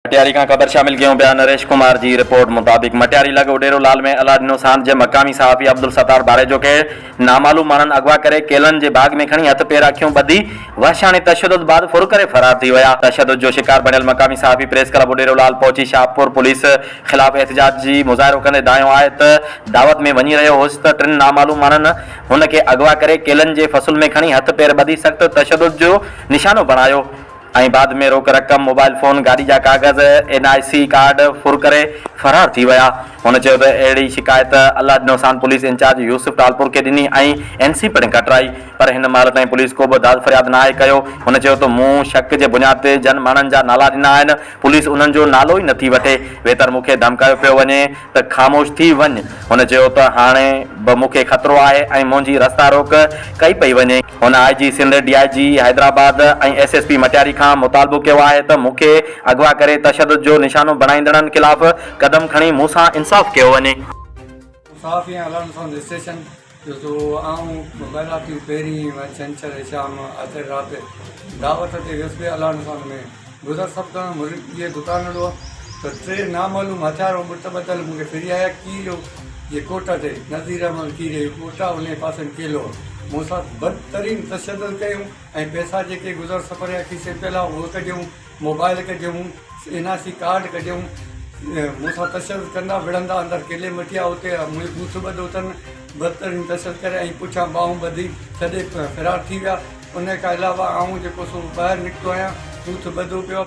مٽياري کان خبر شامل ڪيون پيا نريش ڪمار جي رپورٽ مطابق مٽياري لڳ اڊيرو لال ۾ الله ڏنو ساند جي مقامي صحافي عبدالستار ڀاريجو کي نامعلوم ماڻهن اغوا ڪري ڪيلن جي باغ ۾ کڻي هٿ پير اکيون ٻڌي وحشاڻي تشدد بعد ڦر ڪري فرار ٿي ويا تشدد جو شڪار بڻيل مقامي صحافي پريس ڪلب اڊيرو لال پهچي شاهپور پوليس خلاف احتجاج جي مظاهرو ڪندي دانهيو آهي ته دعوت ۾ وڃي رهيو هوس ته ٽن نامعلوم ماڻهن هن کي اغوا ڪري ڪيلن جي فصل ۾ کڻي هٿ پير ٻڌي سخت تشدد جو نشانو بڻايو ۽ بعد ۾ روڪ رقم، موبائل فون، گاڏي جا ڪاغذ، اين آء سي ڪارڊ ڦر ڪري فرار ٿي ويا. هن چيو ته اهڙي شڪايت الله ڏنو سان پوليس انچارج يوسف ٽالپور کي ڏني ۽ اين سي پڻ ڪٽرائي پر هن مهل تائين پوليس ڪو به داد فرياد ناهي ڪيو. هن چيو ته مون شڪ جي بنياد تي جن ماڻهن جا نالا ڏنا آهن پوليس انهن جو نالو ئي نٿي وٺي ويتر مون کي ڌمڪايو پيو وڃي ته خاموش ٿي وڃ هن چيو ته هاڻي به مون کي خطرو آهي ۽ منهنجي رستا روڪ ڪئي پئي وڃي. هن I G Sindh, D I G Hyderabad ۽ S S P Matiari کان مطالبو ڪيو آهي ته مون کي اغوا ڪري تشدد جو نشانو بڻائيندڙن خلاف قدم کڻي مون سان انصاف ڪيو وڃي. مون صحافين ۽ علائمن سان رجسٽريشن جو سو آئون مبيلاتيون پهرين ۽ ڇنڇر شام آٿر رات دعوت تي ويس به علائمن سان ۾ گذر سڀ ڪرڻ مريد ڪيئي دڪان ڏو ته ٽي نامعلوم هٿيار ۽ بت ٻڌل مون کي ڦري آيا ڪي لو جي ڪوٽ تي نذير احمد ڪي ري ڪوٽ انهي پاسن ڪي لو مون ساٿ بد ترين تشدد ڪيون ۽ پئسا جيڪي گذر سفر جا کيسي پيل ها اهي ڪڍيون موبائل ڪڍيون اين آء سي ڪارڊ ڪڍيون مون سان تشدد ڪندا وڙهندا اندر ڪيلي مٽيا اتي منهنجو بوٿ ٻڌو تن بھترين تسل ڪري ۽ پٺيان ٻانهون ٻڌي ڇڏي فرار ٿي ويا. انهيء کان علاوه آئون جيڪو سو ٻاهر نڪتو آهيان، هو تھ ٻڌو پيو آهي.